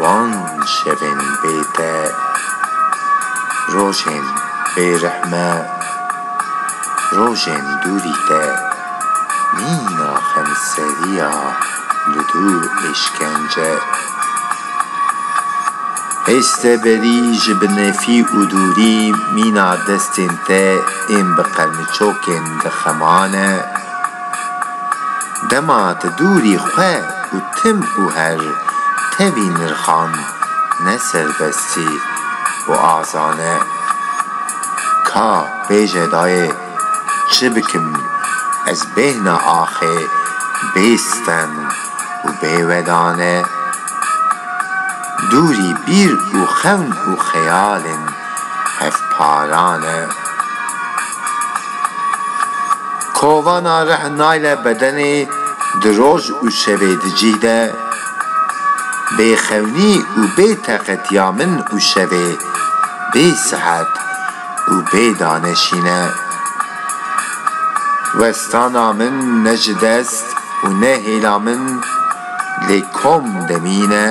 Wan şevên bê te, rojên bê rihme, rojên dûrî te, mîna xemseriya li dû êşkence. Hêj te berî ji bi nefî û dûrî mîna destên te ên bi qermiçokên dixemane. Dema ti dûrî xwe û tim û her tevî nirxan ne serbestî û azan e. Ka bêje dayê çi bikim ez bêhna axê bê stem û bê wedan e. Dûrî bîr û xewn û xeyalên hevparan e. Kovana rih nayle bedenê di roj û şevê di cîh de. Bê xewnî û bê teqet ya min û şevê bê sihet û bê daneşîn e. Westana min ne ji dest û ne hêla min lê kom demîn e.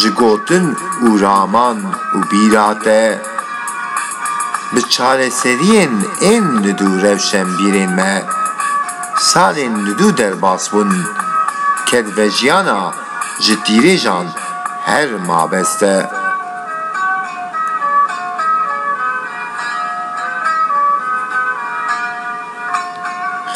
Ji gotin û raman û bîra te, bi çareseriyên ên li dû rewşenbîrên me, salên li dû derbas bûn, kedvejiyana ji tîrêjan her mabest e.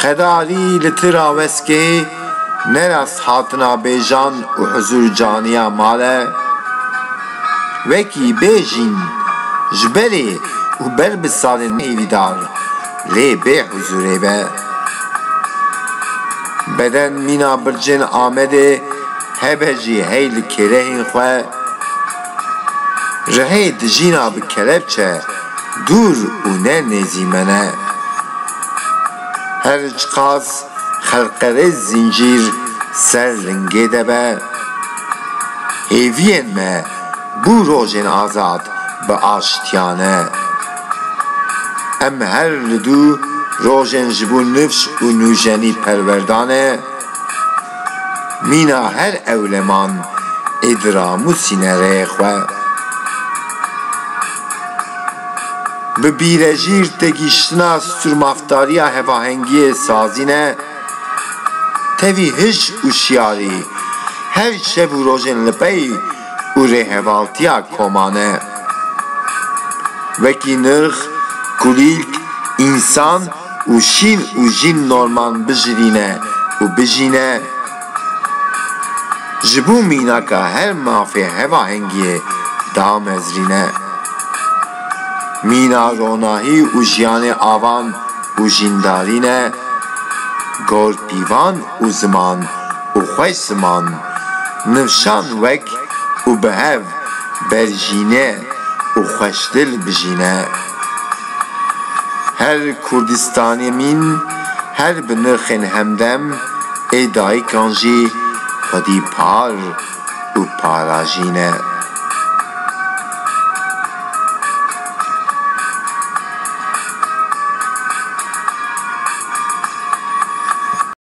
Xedalî li ti raweskê ne rasthatina bêjan û huzûrcaniya mal e. Wekî bêjîn ji berê û ber bi salên êrîdar lê bê huzûrê be. Beden mîna bircên Amedê hebe jî hey li kêlehên xwe. Rihê dijîna bi kelepçe dûr û ne nêzî me ne. Her çiqas xelqerêz zîncîr ser lingê de be, hêviyên me bû rojên azad bi aştiya ne. Em her li dû rojên ji bo nifş û nûjenî perwerda ne. Mîna her ewleman ê di ramûsîne rê xwe bi bîrejîr têgihiştina sûrmaftariya hevahengiyê sazîne, tevî hij û şiyarî her şev û rojên li pey û rêhevaltiya komane. Wekî nirx, kulîlk, însan, û şîn û jîn norman bijivîne û bijîne ji bo mînaka her mafê hevahengiyê damezrîne. Mîna ronahî û jiyanê avan û jîndarî ne, gor pîvan û ziman û xweş ziman, nifşan wek û bi hev berjîne û xweşdil bijîne. Her Kurdistanê mîn, her bi nirxên hemdem ê dayikan jî xwedî par û parajî ne.